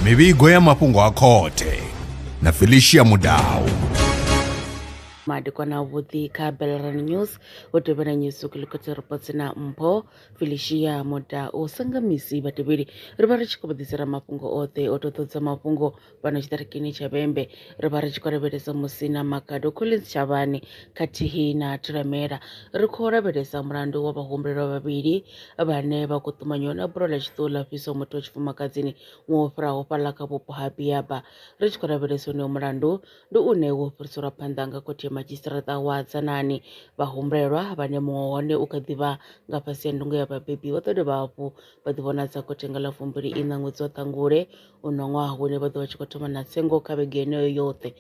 mivhigo ya mafhungo a khothe na felicia mudau madekwana avhuḓi kha belran news vho tevhela news kilikoti reports na mpho felicia muda u sanga misi vhatevheli ri vha ri tshi khou vhaḓisela mafhungo oṱhe o toḓodza mafhungo fhano tshiṱirikini tsha vhembe ri vha ri tshi khou lavhelesa musina makado collins tshavhani khathihi na thulamela ri khou lavhelesa mulandu wa vhahumbulelwa vhavhili vhane vha khou ṱumanyiwa na bulo ḽa tshiṱuhu ḽa fhiso muthu wa tshifumakadzini ṅwe wo fhiraho fhaḽa kha vhupo ha biaba ri tshi khou lavhelesa uneyo mulandu ndi une wo fhiriselwa phanḓa nga khothe madzhisiṱiraṱa wa dzanani vhahumbulelwa vhane muṅwe hone u kha ḓivha nga fhasi ya ndungo ya vhabebi vha ḓo dovha hafhu vha ḓivhonadza khothe nga ḽa fumbili iṋa ṅwedzi wa ṱangule uno ṅwaha hune vha ḓo vha tshi khou thoma na tsengo kha vhege yeneyo yoṱhe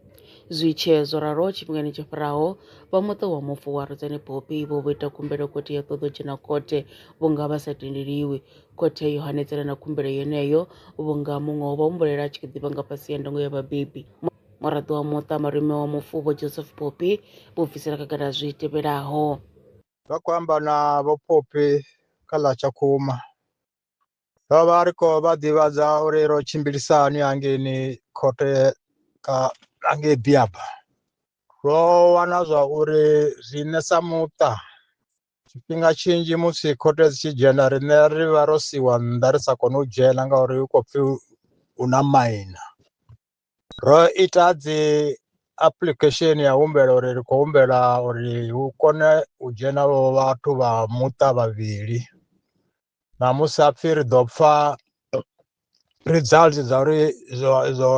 zwi tshee zwo ralo tshifhingani tsho fhiraho vha muṱa wa mufu wa rudzani bopi vho vho ita khumbelo khothe ya ṱoḓo dzhena khothe vhunga vha sa tendeliwi khothe yo hanedzana na khumbelo yeneyo vhunga muṅwe wo vha humbulela a tshi kho ḓivha nga fhasi ya ndango ya vhabebi muraḓo wa muṱa malume wa mufu vho joseph bopi vho bvisela khagala zwi tevhelaho vha khou amba na vho popi kha ḽa tshakhuma vha vha ri khou vha ḓivhadza uri ro tshimbilisa hani hangeini khothe ka hangei biaba ro wana zwa uri riṋe sa muṱa tshifhinga tshinzhi musi khothe dzi tshi dzhena riṋe ri vha ro siwa nnḓa ri sa kone u dzhena ngauri hu khou pfhi hu na maina ro ita dzi application ya humbela uri ri khou humbela uri hu kone u dzhena vho vhathu vha muṱa vhavhili ṋamusi a pfhi ri ḓo pfha results dza uri zwo zwo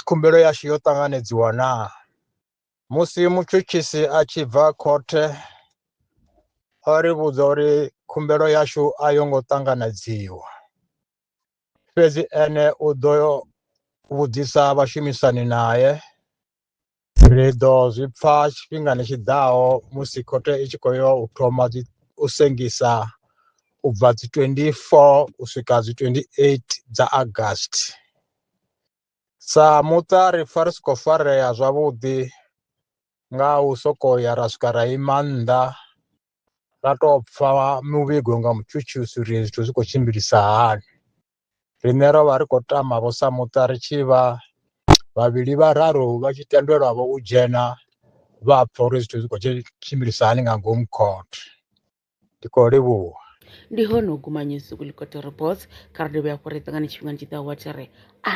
khumbelo yashu yo ṱanganedziwa na musi mutshutshisi a tshi bva khothe o ri vhudza uri khumbelo yashu a yo ngo ṱanganedziwa fhedzi ene u ḓo vhudzisa vhashumisani naye Ri ḓo zwi pfa tshifhingani tshi ḓaho musi khothe i tshi khou yo u thoma u sengisa u bva dzi 24 u swika dzi 28 dza August. Sa muṱa ri pfa ri si khou farea zwavhuḓi nga u sokou ya ra swika ra ima nnḓa ra tou pfa muvhigo nga mutshutshisi uri zwithu zwi khou tshimbilisa hani. Riṋe ro vha ri khou tama vho sa muṱa ri tshi vha vhavhili vhararu vha tshi tendelwa vho u dzhena vha pfa uri zwithu zwi khou tshimbilisa hani nga ngomu court ndi khou livhuwa ndi hone u guma nyusi kulikoti reports kha ri dovhe hafhu ri ṱangane tshifhingani tshi ḓaho wa tshi ri a